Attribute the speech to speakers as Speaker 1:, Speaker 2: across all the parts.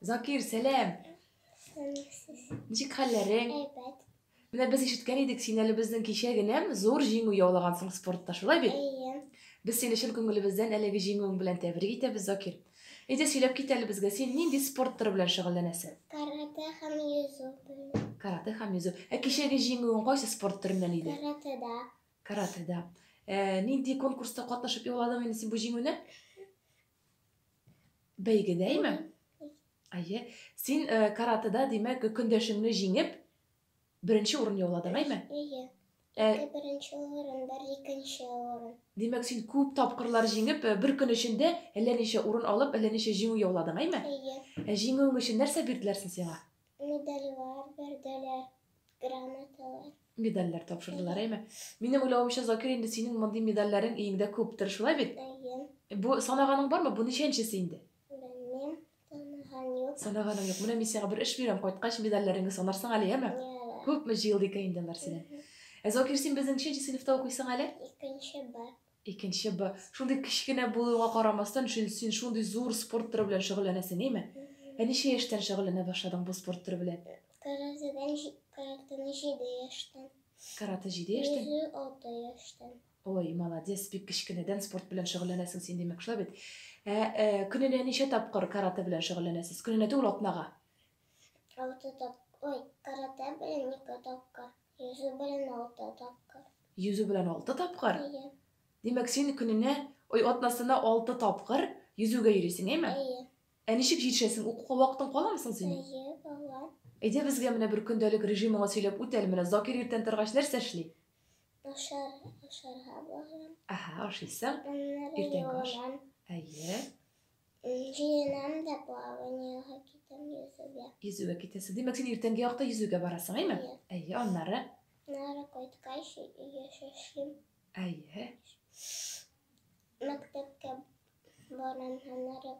Speaker 1: Закир, сәлам! Ничек хәлләрең? Әйбәт. Менә без ишеткән идек, син әле безнең кичә генә зур җиңү яулагансың спортта, шулай бит? Әйе. Без сине чын күңелебездән әлеге җиңүең белән тәбрик итәбез, Закир. Әйдә сөйләп кит әле безгә, син нинди спорт төры белән шөгыльләнәсең? Каратэ һәм йөзү белән. Каратэ һәм йөзү. Ә кичәге җиңүең кайсы спорт төреннән иде? Каратэда. Каратэда. Ә, нинди конкурста катнашып яуладың инде син бу җиңүне? Бәйгедәйме? Әйе. Син э, каратыда, димәк, көндәшеңне җиңеп, беренче урын яуладың, әйме? Әйе. Ә... Ике беренче урын, бер икенче урын. Димәк, син күп тапкырлар җиңеп, э, бер көн эчендә әллә ничә урын алып, әллә ничә җиңү яуладың, әйме? Әйе. Ә җиңүең өчен нәрсә бирделәр син сиңа? Медальләр бирделәр. Грамоталар. Медальләр тапшырдылар, әйме? Минем уйлавымча, Закир, инде синең мондый медальләрең өеңдә күптер, шулай бит? Әйе. Бу санаганың бармы? Бу ничәнчесе инде? Белмим, таныган юк. Санаганың юк. Менә мин сиңа бер эш бирәм, кайткач медальләреңне санарсың әле, яме? Яра. Күпме җыелды икән инде алар синең? Ә Закир, син безнең ничәнче сыйныфта укыйсың әле? Икенче бар. Икенче Б. Шундый кечкенә булуыңа карамастан, син шундый зур спорт төре белән шөгыльләнәсең, әйме? Ә ничә яшьтән шөгыльләнә башладың бу спорт төре белән? Каратэдән, каратэны җиде яшьтән. Каратэ җиде яшьтән? Йөзү алты яшьтән. Ой, молодец, бик кечкенәдән спорт белән шөгыльләнәсең син, димәк, шулай бит? Ә көненә ничә тапкыр каратэ белән шөгыльләнәсез? Көненә түгел, атнага. Алты тап, ой, каратэ белән ике тапкыр. Йөзү белән алты тапкыр. Йөзү белән алты тапкыр? Әйе. Димәк, син көненә, ой, атнасына алты тапкыр йөзүгә йөрисең, әйме? Әйе. Ә ничек җитешәсең? Укуга вакытың каламы соң синең? Әйе, кала. Әйдә безгә менә бер көндәлек режимыңа сөйләп үт әле, менә Закир иртән торгач нәрсә эшли? Ашар, ашарга барам. Аһа, ашыйсың. Иртәнге аш. Әйе. Җыенам да плаваниега китәм йөзүгә. Йөзүгә китәсе. Димәк, син иртәнге якта йөзүгә барасың, әйме? Әйе. Әйе, аннары? Аннары кайткач, өйгә шашлыйм. Әйе. Мәктәпкә барам, аннары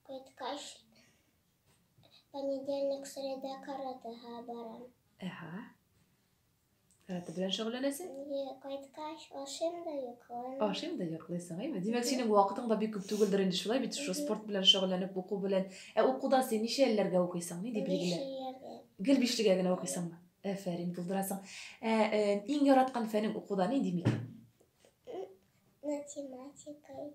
Speaker 1: кайткач, понедельник, среда, каратыга барам. Әһә. Каратэ белән шөгыльләнәсең? Кайткач, ашыйм да йоклыйм. Ашыйм да йоклыйсың, әйме? Димәк, синең вакытың да бик күп түгелдер инде шулай бит, шул спорт белән шөгыльләнеп, уку белән. Ә укуда син ничә елларга укыйсың? Ни дип билгеләр? Гел бишлегә генә укыйсыңмы? Әфәрин, булдырасың. Ә э, иң яраткан фәнең укуда нинди микән? Математика.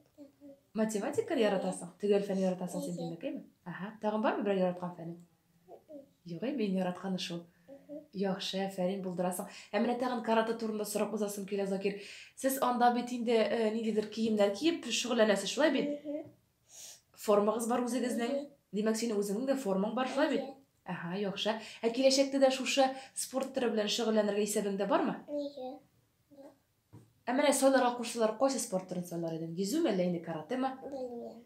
Speaker 1: Математика яратасың? Төгәл фән яратасың син димәк, әйме? Аһа. Тагын бармы берәр яраткан фәнең? Югый, мин яратканы шул. Яхшы, әфәрин булдырасың. Ә менә тагын карата турында сорап узасым килә, Закир. Сез анда бит инде э, ниндидер киемнәр киеп шөгыльләнәсез, шулай бит? Формагыз бар үзегезнең. Димәк, синең үзеңнең дә формаң бар, шулай бит? Ага, яхшы. Ә киләчәктә дә шушы спорт төре белән шөгыльләнергә исәбеңдә бармы? Нигә? Ә менә сайларга кушсалар, кайсы спорт төрен сайлар идең? Йөзүме, әллә инде каратеме? Белмим.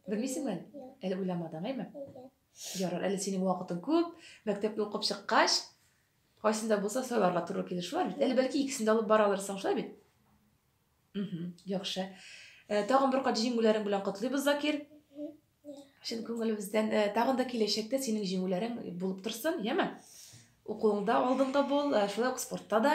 Speaker 1: Белмисеңме әле? Әле уйламадың, әйме? Ярар, әле синең вакытың күп. Мәктәпне укып чыккач, кайсын да булса сайларга туры килер, шулай бит? Әле бәлки икесен дә алып бара алырсың, шулай бит? Угу, яхшы. Э, тагын бер кат җиңүләрең белән котлыйбыз, Закир. Чын күңелебездән э, тагын да киләчәктә синең җиңүләрең булып торсын, яме? Укуыңда алдыңда бул, э, шулай ук спортта да.